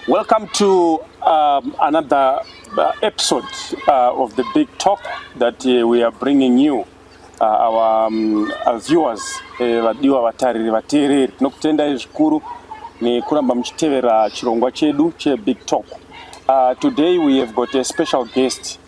Welcome to um, another uh, episode uh, of the big talk that uh, we are bringing you uh, our, um, our viewers eh, vadiwa vatariri vateereri tinokutendai zvikuru nekuramba muchitevera chirongwa chedu chebig talk uh, today we have got a special guest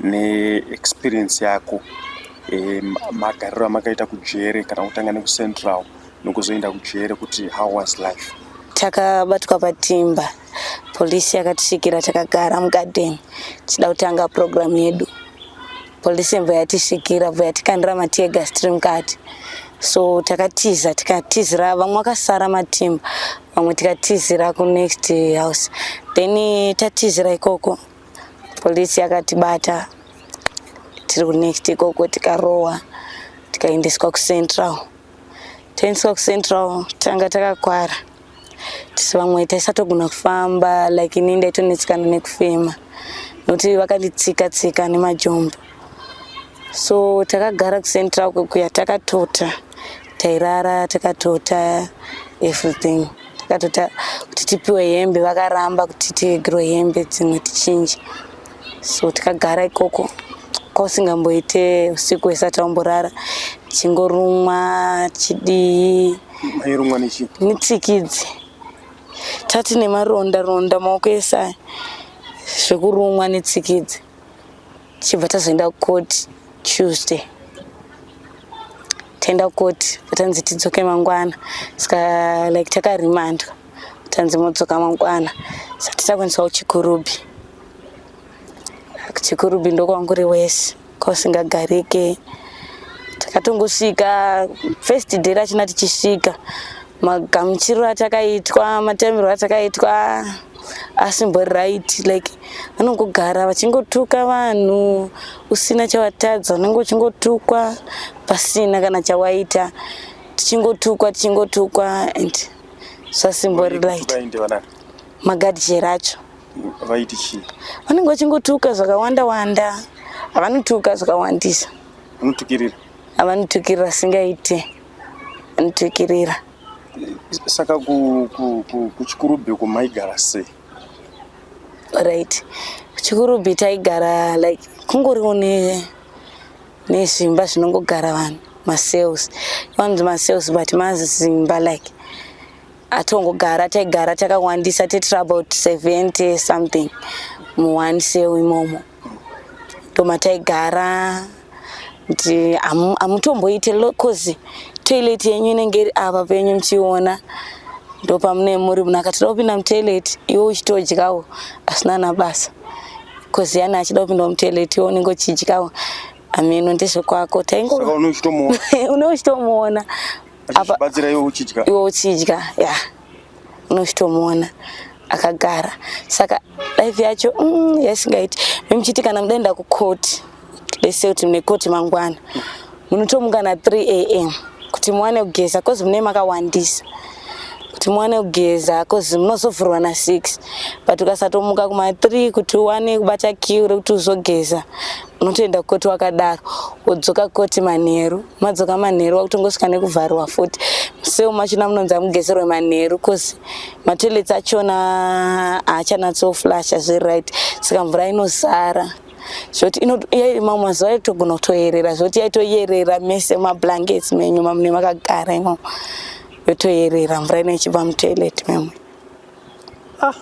ne experience yako magariro amakaita kujere kana kutanga nekucentral nokuzoenda kujere kuti how was life takabatwa patimba polisi yakatisvikira takagara mugarden tichida kutanga program yedu polisi yembo yatisvikira bva yatikandira matiegas tiri mukati so takatiza tikatizira vamwe vakasara matimba vamwe tikatizira kunext house then tatizira ikoko Polisi yakatibata tiri kunext ikoko tikarohwa tikaendeswa kucentral taendeswa kucentral tanga takakwara tisi vamwe taisatogona kufamba like ini ndaitonetsikana nekufema nokuti vakanditsika tsika nemajombo so takagara kucentral kwekuya takatota tairara takatota everything takatota kuti tipiwe hembe vakaramba kuti tiegirwe hembe dzimwe tichinje so tikagara ikoko kwausingamboite usiku hwese taumborara chingorumwa chidii airumwa nechi nitsikidzi tati nemaronda ronda maoko ese aya zvekurumwa nitsikidzi tichibva tazoenda court tuesday taenda court vatanzi tidzoke mangwana ska like takarimandwa tanzi modzoka mangwana sati takwanisa kuchikurubi kuchikurubi ndokwanguri wese kwausingagarike takatongosvika first day rachina tichisvika magamuchiriro atakaitwa matamirwo atakaitwa asimbori right like vanongogara vachingotuka vanhu usina chawatadza unenge uchingotukwa pasina kana chawaita tichingotukwa tichingotukwa and zvasimbori right magadi chero acho vaiti chii vanenge vachingotuka zvakawanda wanda havanotuka zvakawandisa vanotukirira havanotukirira singaite vanotukirira Saka kuchikurubhi uko maigara sei? Right. Kuchikurubhi taigara like kungoriwo ne nezvimba zvinongogara vanhu masales vanonzi masales but mazimba like atongogara taigara takawandisa tetiri about 70 something muone sale imomo ndomataigara kuti hamutomboite coz toilet yenyu inenge iri ava penyu muchiona ndopamune muri munhu akatoda kupinda mutoilet iwe uchitodyawo asina nabasa coz yani achida kupinda mutoilet iwe unenge uchidyawo ameno ndezvekwako taingounochitomuona unochitomuona abatsira iwe uchidya iwe uchidya ya yeah. unochitomuona akagara saka life yacho mm, yaisingaiti memuchiti kana mudaenda kukoti lese kuti mune koti mangwana munotomuka na 3 am kuti muwane kugeza kozi mune makawandisa kuti muwane kugeza kozi munozovhurwa na 6 but ukasatomuka kuma 3 kuti uwane kubata kiu rekuti uzogeza unotoenda kukoti wakadaro wodzoka kukoti manheru madzoka manheru wakutongosvika nekuvharwa futi museu machona munonzi amugeserwe manheru cause matoilets achona haachanatsoflasha zviri right saka mvura inosara zvoti mamwe mazuva yaitogona kutoyerera zvoti yaitoyerera mese mablankets menyu mamune makagara imomo yotoyerera mvura ino ichibva mutoilet memwe ah,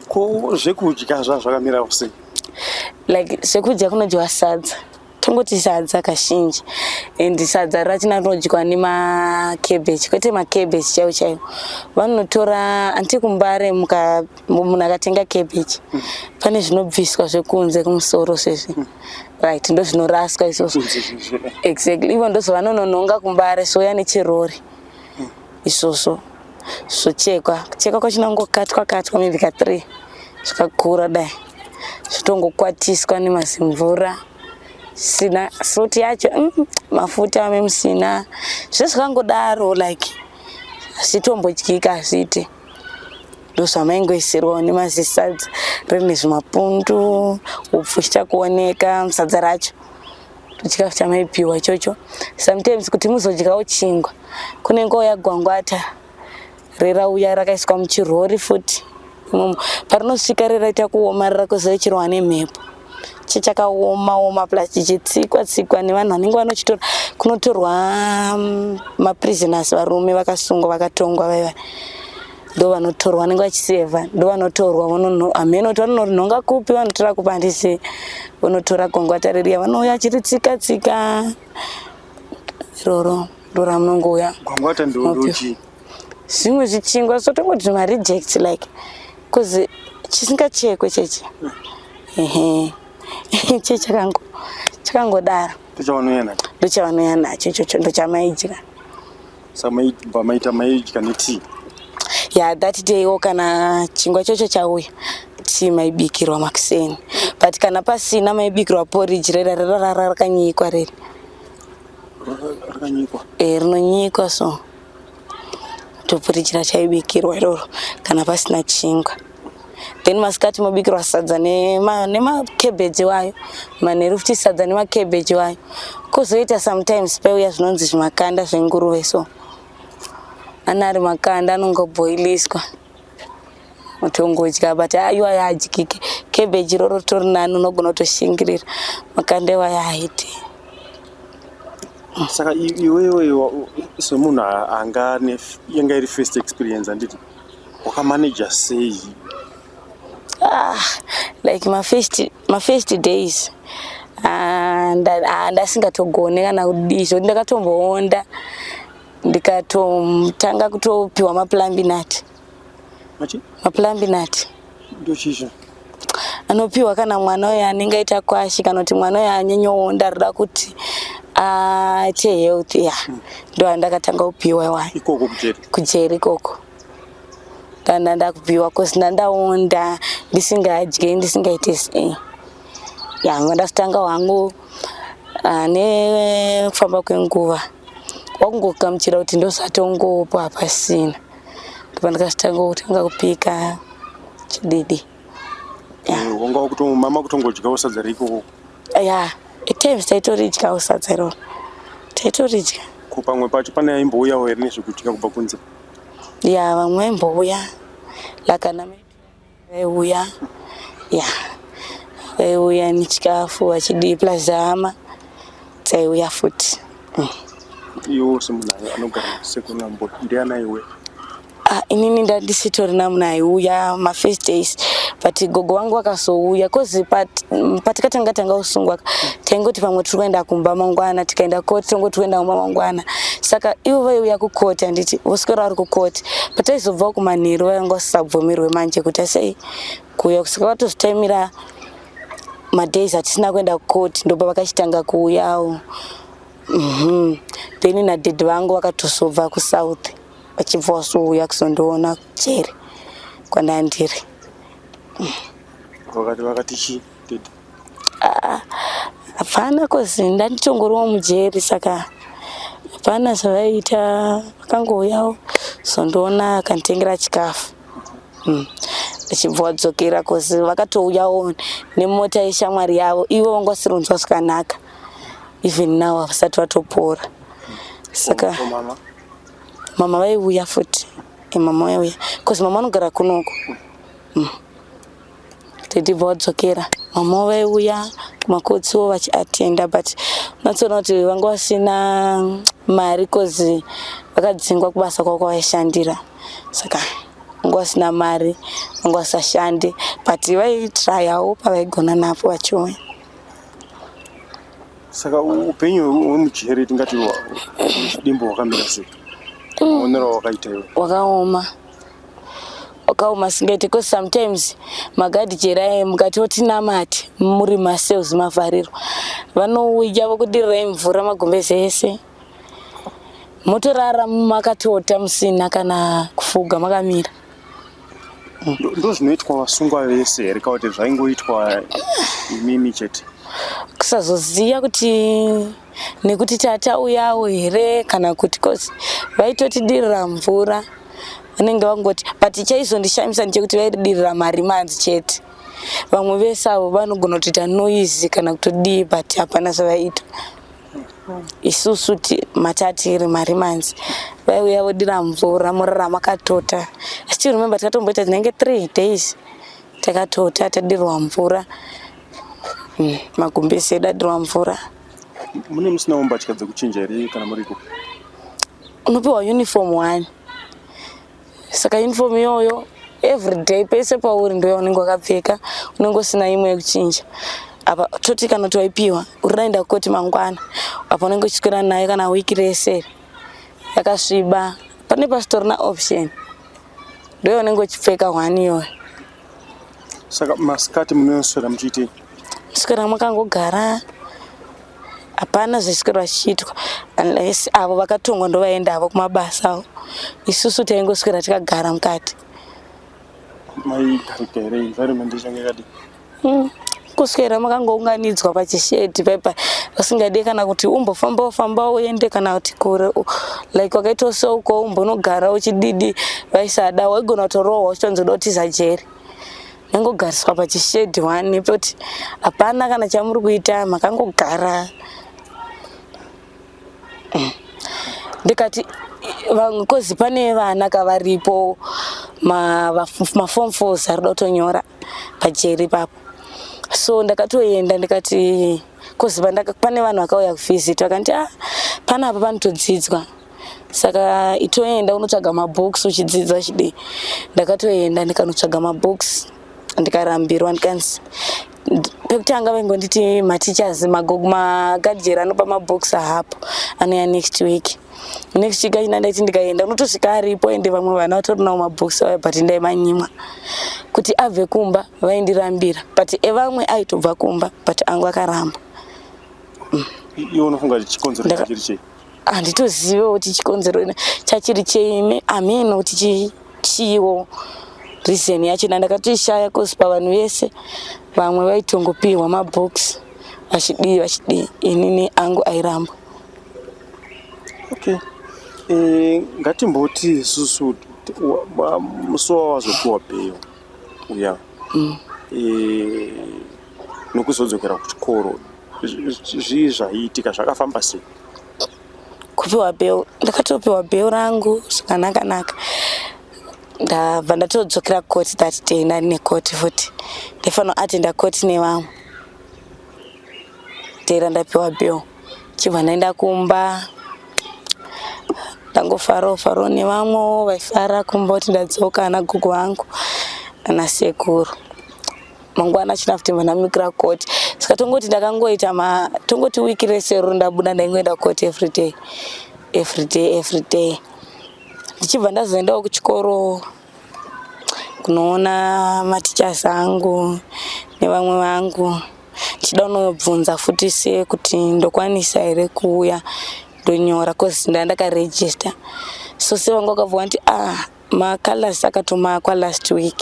ko zvekudya zvazvakamira usei like zvekudya kunodyiwa sadza tongoti sadza kazhinji and sadza rachina rinodyiwa nemacabbage kwete macabbage chaiwo chaiwo vanotora anti kumbare munhu akatenga cabbage pane zvinobviswa zvekunze kumusoro sezvi right ndozvinoraswa izvozvo exactly ivo ndozovanononhonga kumbare souya nechirori isvosvo zvochekwa kuchekwa kwacho nangokatwa katwa maybe ka three zvakakura dai zvotongokwatiswa nemazimvura sina fruit yacho mm, mafuta ame musina zve zvakangodaro like zvitombodyika hazviite ndozvamaingoisirwa one mazisadza rine zvimapundu upfu chichakuoneka sadza racho chikafu chamaipiwa ichocho sometimes kuti muzodyawo chingwa kunenge kwauya gwangwata rerauya rakaiswa muchirori futi imomo parinosvika reraita kuomarara kwezove chirohwa nemhepo chichakaoma oma plus chichitsikwa tsikwa nevanhu vanenge vanochitora kunotorwa mm, maprisoners varume vakasungwa vakatongwa vaiva ndovanotorwa vanenge vachiseva ndovanotorwa vonono hameno kuti vanorinhonga kupi vanotora kupi handisi vonotora kongwata ririya vanouya chiri tsika tsika iroro ndora munongouya gwangwata ndoochi zvimwe zvichingwa so tongoti zvima reject like bcause chisingachekwe chechi ehe che chakango chakangodaro ndochavanouya nacho ndochavanouya nacho ichocho ndochamaidya samaibva maita maidya netii ya that day o kana chingwa chocho chauya tii maibikirwa makuseni but kana pasina maibikirwa poriji rera rerarara rakanyikwa reri rakanyikwa e rinonyikwa so toporiji rachaibikirwa iroro kana pasina chingwa then masikati mobikirwa sadza nemacabbage nema wayo manheru futi sadza nemacabbage wayo kuzoita sometimes peuya zvinonzi zvimakanda zvenguruve so ana ari makanda anongoboiliswa mutongodya but aiwa yaadyike cabbage iroro ritori nani unogona kutoshingirira makanda iwayo aiti saka iwewe semunhu anga anga iri first experience handiti Wakamanager sei? Ah, like my first, my first days ah, ah, ndasingatogone kana kudii zvoti ndakatomboonda ndikatotanga kutopiwa maplambinati maplambinati ndochizva anopiwa kana mwana uyo anenge aita kwashi kana kuti mwana uyo anyenyowo ndaroda kuti aite ah, health ya hmm. ndo andakatanga kupiwa iwayo ikoko kujeri kujeri ikoko ndanda ndakupiwa cause ndandaonda ndisingadye ndisingaite sei ya ndakutanga wangu ah, nekufamba kwenguva wakungokamuchira kuti ndosatongopa pasina ndipandikazotanga kutanga kupika chididi wanga mama kutongodyawo sadza reikoko ya etimes taitoridyawo sadza iroro taitoridya ko pamwe pacho pane aimbouyawo here nezvekudya kubva kunze ya vamwe vaimbouya lakana vaiuya ya vaiuya nechikafu vachidii plus hama dzaiuya futi mm. iwo semunhu anogara sekunambo ndiana iwe Ah, inini ndandisitorina munhu aiuya mafirst days but gogo wangu vakazouya bcause mm, patikatanga tanga kusungwa taingoti pamwe tiri kuenda kumba mangwana tikaenda koti tongoti kuenda kumba mangwana saka ivo vaiuya kukoti handiti voswera vari kukoti pataizobvawo kumanheru vainga vasisabvumirwe manje kuti asei kuuya kusaka vatozitaimira madays atisina kuenda kucourt ndobva vakachitanga kuuyawo mhm. then nadad vangu vakatozobva kusouth vachibva wasouya kuzondiona jeri kwandandiri mhm. Ah, hapana kozi ndanditongoriwo mujeri saka hapana zvavaiita vakangouyawo zondiona akanditengera chikafu mm. achibva wadzokera kozi vakatouyawo nemota yeshamwari yavo ivo vanga vasirinzwa zvakanaka even now havasati vatopora saka mama vaiuya futi mama vaiuya bcause mama vanogara kunoko mm. tedibva wadzokera mama vaiuya kumakotsiwo vachiatenda but unatsoona kuti vanga vasina mari bcause vakadzingwa kubasa kwavo kwavaishandira saka vanga vasina mari vanga vasashande but vaitrayawo pavaigona napo vachiuya saka upenyu hwemujeri tingati dimbo hwakamira sei maonero awakaita iwe wakaoma mm. wakaoma singete because sometimes magadi cheraye mukati oti namati muri maselves mavharirwa vanouya vokudirirai mvura magumbeze ese motorara makatota musina kana kufuga makamira ndozvinoitwa vasungwa vese here kakuti zvaingoitwa imimi chete kusazoziva kuti nekuti tatauyawo here kana kuti cause vaitotidirira mvura vanenge vangoti but chaizondishamisa ndechekuti vaidirira mari manzi chete vamwe vese avo vanogona kutoita noise kana kutodii but hapana zvavaita isusu matatiri mari manzi vaiuya vodira mvura murara makatota still remember tikatomboita tinenge three days takatota tadirwa mvura mm, magumbezi edu adirwa mvura mune musinawo mbatya dzekuchinja here kana muriko unopiwa uniform one saka uniform iyoyo everyday pese pauri ndoya unenge wakapfeka unenge usina imwe yekuchinja apa toti kana towaipiwa urinaenda kukoti mangwana apa unenge uchiswera nayo kana wiki rese yakasviba pane pasitorina option Ndiwe unenge uchipfeka hwani iyoyo. Saka masikati munoswera muchiitei? Swera makangogara hapana zvaswera zvichiitwa unless avo vakatongwa ndovaenda avo kumabasa avo. Isusu taingoswera tikagara mukati. Mai garika here environment ichange yakadii? Hmm. kuswera makangounganidzwa pachishedhi paipa vasingade kana kuti umbofamba ufamba uende kana kuti kure like wakaita so uko umbonogara uchididi vaisada waigona kutorohwa uchitonzoda kutiza jeri yangogariswa pachishedhi wani poti hapana kana chamuri kuita makangogara hmm. ndikati vamwe kozi pane vana kavaripo mafom fos arida kutonyora pajeri ipapo so ndakatoenda ndikati kozi pane vanhu vakauya kuvisit vakanti ah pana apa panotodzidzwa saka itoenda unotsvaga mabooks uchidzidza chidii ndakatoenda ndikanotsvaga mabooks ndikarambirwa ndikanzi pekutanga vaingonditi mateachers magadjeri anopa mabooks ahapo anouya next week next week achina ndaiti ndikaenda unotosvika aripo ende vamwe vana vatorinawo mabhokisi vaya but ndaimanyimwa kuti abve kumba vaindirambira but evamwe aitobva kumba but angu akaramba mm. iwe unofunga kuti chikonzero chachiri chei handitozivewo kuti chikonzero chachiri chei amino kuti chiiwo reason yacho na ndakatoishaya cause pavanhu vese vamwe vaitongopihwa mabhokisi vachidii vachidii inini angu airamba okay eh, ngatimboti isusu musi wawazopiwa bheyo uya mm. eh, nokuzodzokera kuchikoro zvii zvaiitika zvakafamba sei kupiwa bheo ndakatopiwa bheo rangu zvakanakanaka ndabva ndatodzokera kukoti that day ndari nekoti futi ndaifanira atenda koti nevamwe dera ndapiwa bheo chibva ndaenda kumba ndangofarawo farawo nevamwewo vaifara kumba kuti ndadzoka ana gogo vangu ana sekuru mangwana china kuti ndamikira koti saka tongoti ndakangoita ma tongoti wiki rese ruru ndabuda ndaingoenda koti everyday everyday everyday ndichibva ndazoendawo kuchikoro kunoona matichas angu nevamwe vangu ndichida kunobvunza futi se kuti ndokwanisa here kuuya ndonyora bcause ndaa ndakaregister so se vanga wakabva wanti ah macalors akatomakwa last week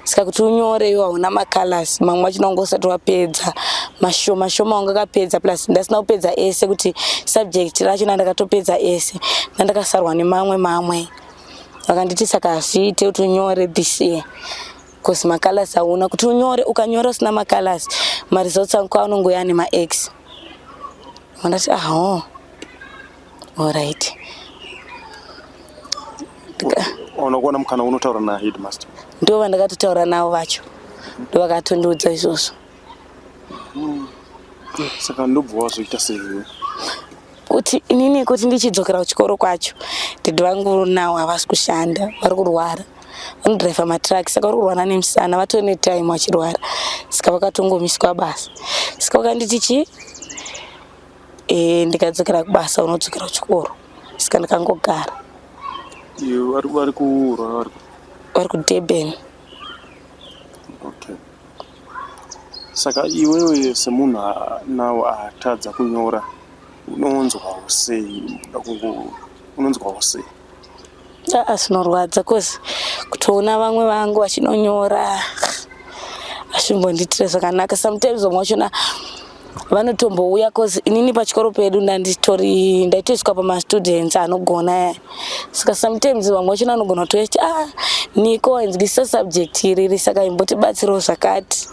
saka kuti unyore iwo hauna macalors mamwe machina wanga usati wapedza mashoma shoma wanga akapedza plus ndasina kupedza ese kuti subject racho nandakatopedza ese nandakasarwa nemamwe mamwe vakanditi saka hazviite kuti unyore this year cause macolors hauna kuti unyore ukanyora usina macolors maresults angu anongouya ane max mandati aho allright unokuona mukana unotaura naheadmaster ndo vandakatotaura navo vacho ndovakatondiudza izvozvo Mm. Eh, saka ndobva wazoita sei? Kuti inini kuti ndichidzokera kuchikoro kwacho dad vangu nawo havasi kushanda vari kurwara vanodriver matruck saka vari kurwara nemusana vatove netime vachirwara saka vakatongomiswa basa saka vakanditi chii e, ndikadzokera kubasa unodzokera kuchikoro saka ndikangogara vari kurwa vari kudurban okay. Saka iwewe semunhu now atadza kunyora unonzwawo sei? Unoda kungo unonzwawo sei? Aa zvinorwadza cause kutoona vamwe vangu vachinonyora hazvimbondiitire zvakanaka sometimes vamwe vachona vanotombouya cause inini pachikoro pedu ndanditori ndaitoiswa pamastudents anogona saka sometimes vamwe vachona anogona kutoya chiti a ah, niko ainzwisisa subject iriri saka imbotibatsirawo zvakati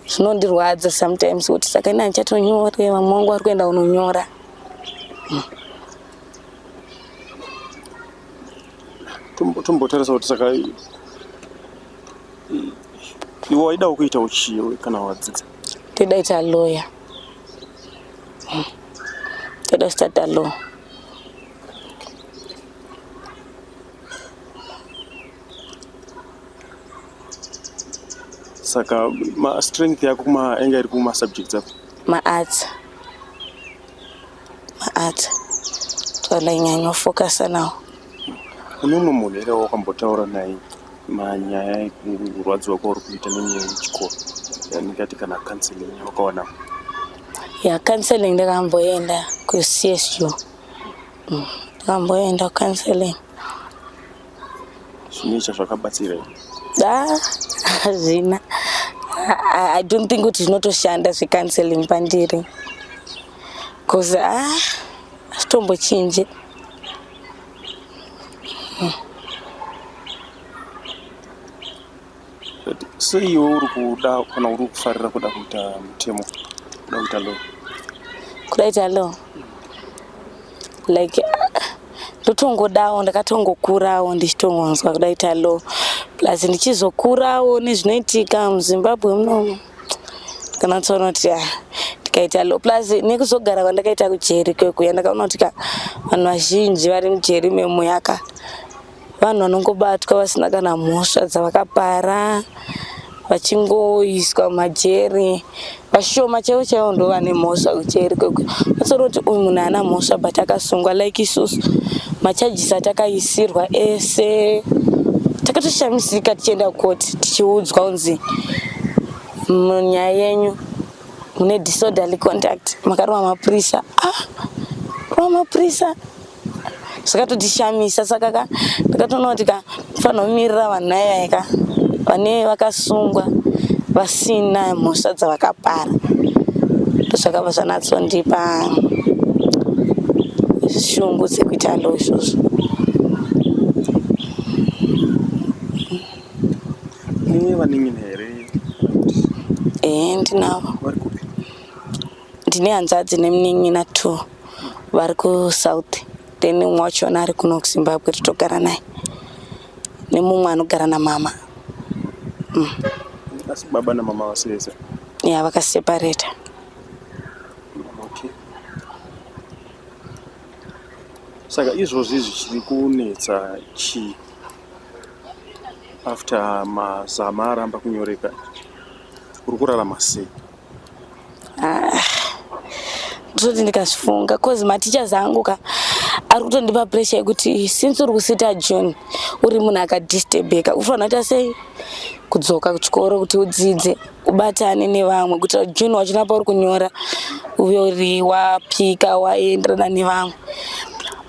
zvinondirwadza sometimes kuti saka ini hanchatonyore vamwe wangu vari kuenda kunonyora tombotarisa kuti saka iwe waidawo kuita uchiwe kana wadzidza Toda ita lawyer. Hmm. Toda start a law. Saka ma strength yako kuma enga iri kuma subjects ako? Ma arts. maarts twandanyanyo fokasa nawo kune umwe munhu here wakambotaura naye manyaya ekurwadziwa kwauri kuita nenyaya yechikoro yanikati kana counseling wakawana ya counseling ndakamboenda kucsu mm, ndakamboenda counseling zvine chazvakabatsira da hazvina i don't think kuti zvinotoshanda zvecounseling pandiri cause ah chitombo chinje sei iwe uri kuda kana uri kufarira kuda kuita mutemo kuda kuita law kuda kuita law like ndotongodawo ndakatongokurawo ndichitongonzwa kuda kuita law plus ndichizokurawo nezvinoitika muzimbabwe munomu kana tsoona kuti ya ndikaita lo plus nekuzogara kwandakaita kujeri kwekuya ndakaona kuti ka vanhu vazhinji vari mujeri memuyaka vanhu vanongobatwa vasina kana mhosva dzavakapara vachingoiswa majeri vashoma chaivo chaivo ndo vane mhosva kujeri kwekuya atsoona kuti uyu munhu haana mhosva but akasungwa like isusu machajisi atakaisirwa ese takatoshamisika tichienda kukoti tichiudzwa kunzi munyaya yenyu mune disorderly conduct makarova mapurisa ah rova mapurisa zvakatodishamisa saka ka ndakatoona kuti ka fanirwa kumirira vanhu naivaye ka vane vakasungwa vasina mhosva dzavakapara ndozvakabva zvanatsondipa shungu dzekuita ndo izvozvo Iye vanin'ina here kana kuti ehe ndinavo vari kupi? ndine hanzvadzi nemunin'ina two vari kusouth then umwe wachona ari kuno kuzimbabwe totogara naye nemumwe anogara namama Asi baba namama vasi vese. ya vakaseparata Okay. Saka izvozvi zvichiri kunetsa chii? after mazama aramba kunyoreka uri kurarama sei ah, ndizvoti ndikazvifunga cause mateachers angu ka ari kutondipa pressure yekuti since uri kusita june uri munhu akadisturbeka ufanira kuita sei kudzoka kuchikoro kuti udzidze ubatane nevamwe kuitira kuti june wachina pauri kunyora uve uri wapika waenderana nevamwe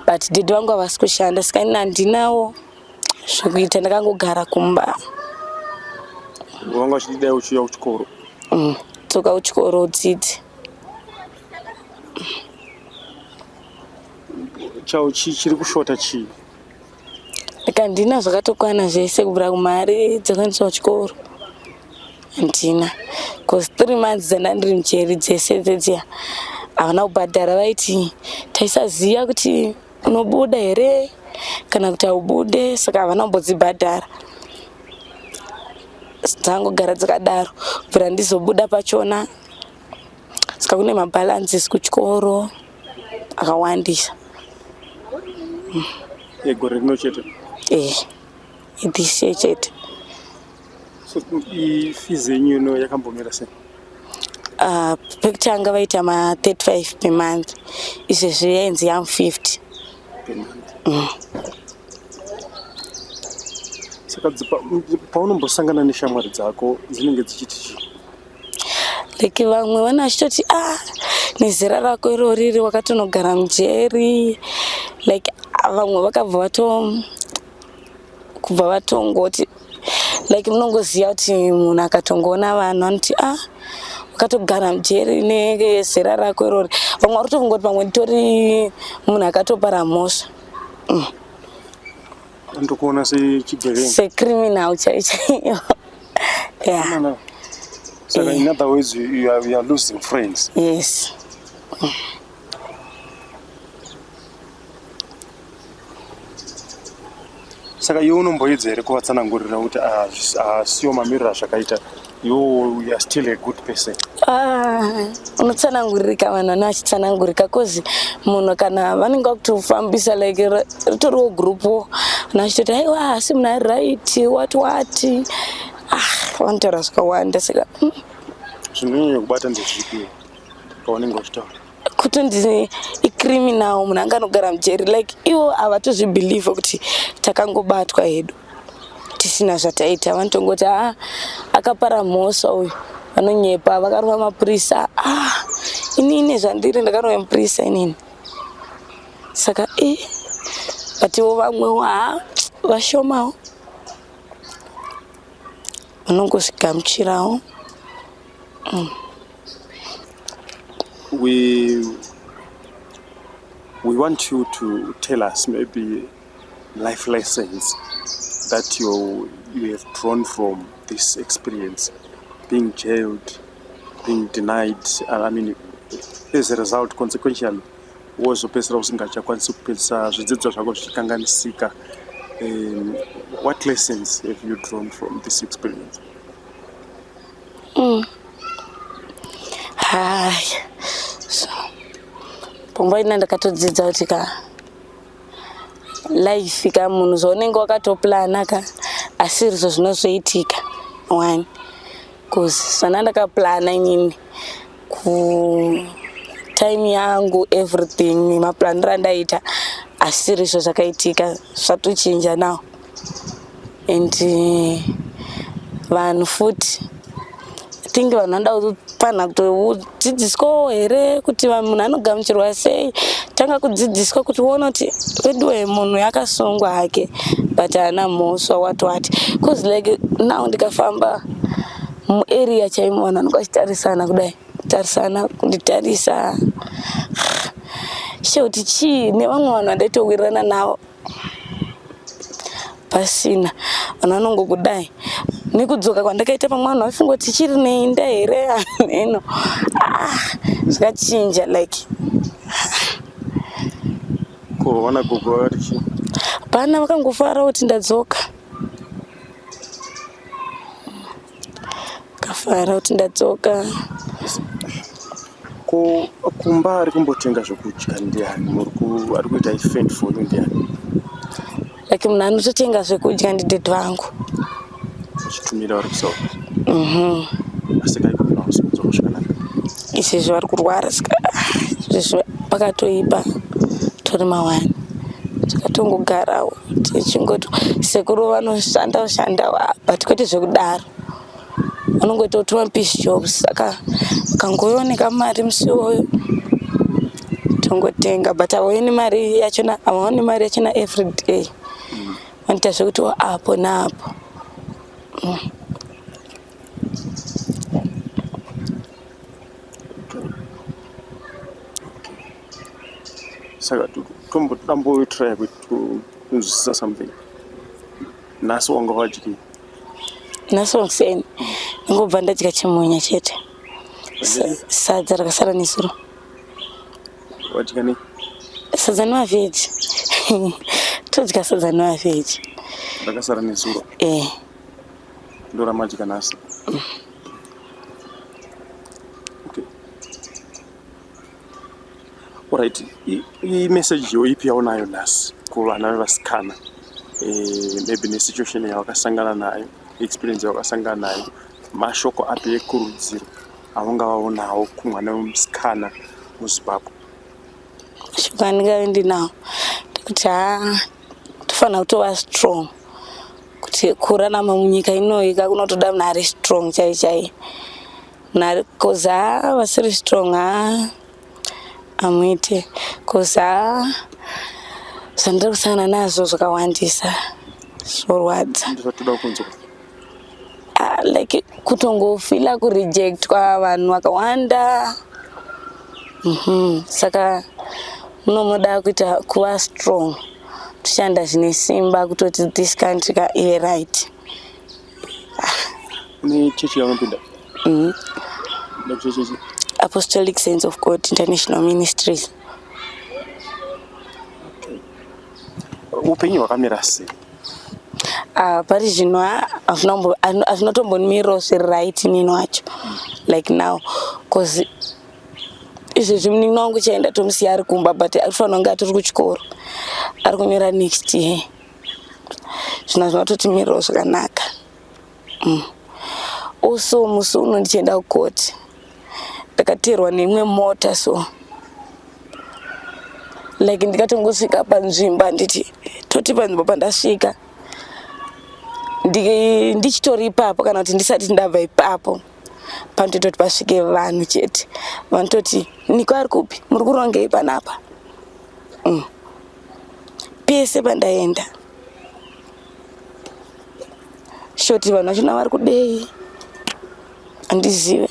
but dedi vangu havasi kushanda saka ini handinawo zvekuita ndakangogara kumba vanga vachididai uchiuya kuchikoro mm, toka kuchikoro udzidzi chao chii chiri kushota chii Handina zvakatokwana zvese kubvira kumari dzekuendesa kuchikoro handina bcause three months dzandandiri mujeri dzese dzedziya havana kubhadhara vaiti taisaziva kuti unobuda here kana kuti haubude saka havana kumbodzibhadhara dzangogara dzakadaro kubvira ndizobuda pachona saka kune mabalances kuchikoro akawandisa egore rino chete eh idhise chete so fees yenyu ino yakambomira sei uh, pekutanga vaita ma 35 per month izvezvi yainzi yam 50 per month mm. saka paunombosangana neshamwari dzako dzinenge dzichiti chii like vamwe vana vachitoti ah nezera rako iro riri wakatonogara mujeri like vamwe vakabva vato kubva vatongoti like munongoziva kuti munhu akatongoona vanhu anoti ah wakatogara mujeri nezera rako irori vamwe vari kutongoti pamwe nditori munhu akatopara mhosva mm. Ndokuona sechigevenga. Secriminal chaiyo chaiyo. Yeah. No, So yeah. in other words you, you, are, you are losing friends. Yes. Saka iwe unomboedza here kuvatsanangurira kuti ah, ah, siyo mamiriro azvakaita You, you are still a good person. Ah, unotsanangurika vanhu vane vachitsanangurika cause munhu kana vanenge vakutofambisa like ritoriwo group wo vanhu vachitoti aiwa hasi munhu ari right what what ah vanotaura zvakawanda saka mm. zvinonyanya kubata ndezvipi paunenge uchitaura kutonzi icriminal munhu anga anogara mujeri like ivo havatozvibelieve kuti takangobatwa hedu tisina zvataita vanotongoti a ah, akapara mhosva uyu vanonyepa vakarova mapurisa a ah, ini ine zvandiri ndakarova mupurisa inini saka e eh, vativo vamwewo ha ah, vashomawo vanongozvigamuchirawo Mm. We we want you to tell us maybe life lessons that you you have drawn from this experience, being jailed, being denied. I mean, as a result, consequentially, wozopedzisira usingachakwanisi kupedzisa zvidzidzo zvako zvichikanganisika. Um, what lessons have you drawn from this experience? mm. haya so pfungwa ina ndakatodzidza kuti ka life ka munhu zvaunenge wakatoplana ka asi rizvo zvinozoitika one bcause sana ndakaplana inini ku time yangu everything maplaniro andaita asi rizvo zvakaitika zvatochinja now and eh, vanhu futi think vanhu vanoda kufanira kutodzidziswawo here kuti munhu anogamuchirwa sei tanga kudzidziswa kuti uona kuti veduwe munhu yakasungwa hake but haana mhoswa what what bcause like now ndikafamba muarea chaimo vanhu vanenge vachitarisana kudai tarisana kunditarisa she kuti chii nevamwe vanhu vandaitowirirana navo pasina vanhu vanongokudai nekudzoka kwandakaita pamwe vanhu vaifunga kuti chiri neinda here hameno ah, zvakachinja like kuona gogo vakati chii pana vakangofara kuti ndadzoka Ndakafara kuti ndadzoka. Ko kumba ari kumbotenga zvokudya ndiani? Muri ku ari kuita i fend for you ndiani? Like munhu anototenga zvekudya ndidad vangu. Uchitumira vari kusawa. Asi kai kuti vakuzokudzwa kusvika nani? Izvezvi vari kurwara saka izvezvi pakatoipa tori mawani. Takatongogarawo. tichingoti sekuru vanoshanda shanda but kwete zvekudaro vanongoita kuti mapish jobs saka ukangooneka mari musi iwoyo tongotenga but havaoni mari yachona havaoni mari yachona everyday vanoita zvekuti apo naapo mm. saka tombotambotry kunzwisisa something nhasi wanga vadyi nhasi wakuseni ndingobva ndadya chimunya chete sadza rakasara nesuro wadya nei sadza nevavheji todya sadza nevavheji rakasara nesuro e eh. ndoramadya nhasi mm. Alright, iyi message yo ipi yaunayo nhasi kuvana vevasikana eh, maybe nesituation yavakasangana nayo experience yavakasangana nayo mashoko api ekurudziro avangavaonawo kumwana wemusikana muzimbabwe shoko andingave ndinawo ndekuti haa tofanira kutova strong kuti kurarama munyika inoika kunotoda munhu ari strong chai chai Nakoza vasiri strong ha amuite koza zvandiri kusangana nazvo zvakawandisa zvorwadza ah, like kutongofila kurejectwa vanhu vakawanda mhm, saka munomoda kuita kuva strong tishanda zvine simba kutoti this country ka iri right Ni chechi yaunopinda? Mhm. Ndakuti chechi. Apostolic Saints of God International Ministries. Upenyu hwakamira sei? Ah, pari zvino ha- hazvina kumbo- hazvino- hazvina kutombonimirawo zviri right nini wacho like now bcause izvezvi munin'ina wangu chaenda tomusiya ari kumba but ari kufanira kunge atori kuchikoro ari kunyora next year zvina zvinototimirirawo zvakanaka mm. also musi uno ndichienda kukoti ndakateerwa neimwe mota so like ndikatongosvika panzvimbo handiti toti panzvimbo pandasvika ndichitori ipapo kana kuti ndisati ndabva ipapo panotoita kuti pasvike vanhu chete vanototi niko ari kupi muri kurongei panapa mm. pese pandaenda shoti vanhu vachona vari kudei handizive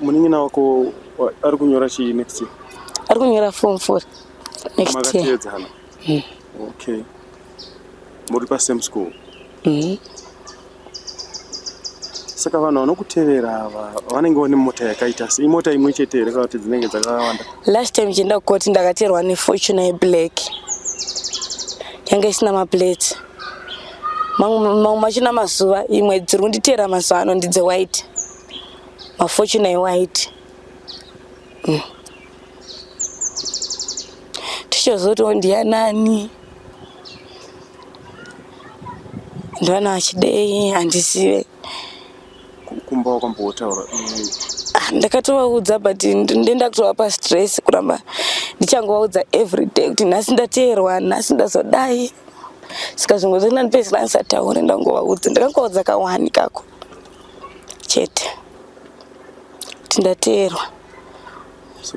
munin'ina wako ari kunyora chii next year ari kunyora form four next year hmm. okay muri pasame school Mhm. Saka vanhu vanokutevera ava vanenge vane mota yakaita sei? Imota imwe chete here kana kuti dzinenge dzakawanda? last time chienda kukoti ndakaterwa nefortuna yeblack yanga isina maplate mamwe mamwe machina mazuva imwe dziri kunditeera mazuva ano ndidzewhite mafortuna ewhite Mm. tichazoti ndiyanani ndivana vachidei handizive kumba wakambotaura ah, ndakatovaudza but ndenda kutovapa stress kuramba ndichangovaudza everyday kuti nhasi ndateerwa nhasi ndazodai saka zvimwe zvacho ndandipedzera ndisataure ndangovaudza ndakangovaudza kawani kako chete kuti ndateerwa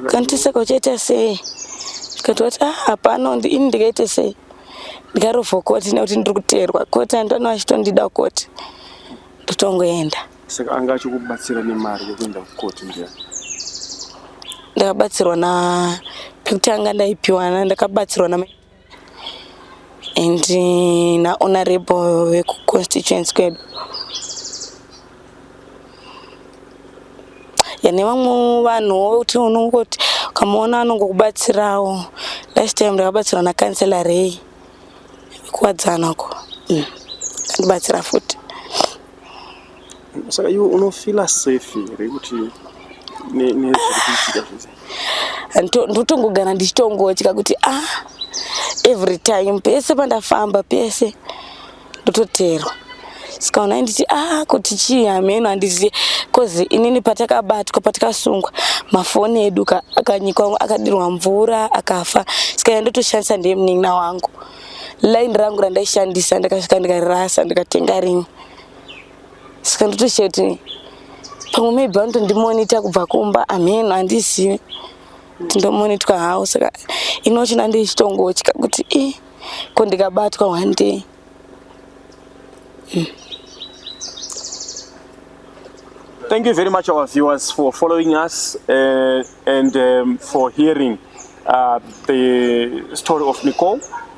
kanti saka uchaita sei tikati wati ah, hapano ini ndikaite sei ndikarovha koti nekuti ndiri kuteerwa koti andona vachitondida koti ndotongoenda saka anga achikubatsira nemari yekuenda kukoti ndiya ndakabatsirwa na pekutanga ndaipiwa ndakabatsirwa na and nahonorable vekuconstituency kwedu yane vamwe vanhuwo vekuti unongoti ukamuona anongokubatsirawo last time ndakabatsirwa nakansela rei kuwadzana ko mm. andibatsira futi saka iwe unofila safe here kuti nezviri kuitika zvese ndotongogara ndichitongotya kuti a ah, every time pese pandafamba pese ndototerwa sikaona nditi a ah, kuti chii hameno handizive bcause inini patakabatwa patakasungwa mafoni edu akanyikwa akadirwa mvura akafa sikaia ndotoshandisa ndemunin'ina wangu line rangu randaishandisa ndakasvika ndikarasa ndikatenga rimwe saka ndotoshaya kuti pamwe maybe vanotondimonita kubva kumba amheno handizivi tindomonitwa hawo saka inochina ndichitongotya kuti i eh, ko ndikabatwa one day mm. Thank you very much, our viewers, for following us uh, and um, for hearing uh, the story of Nicole.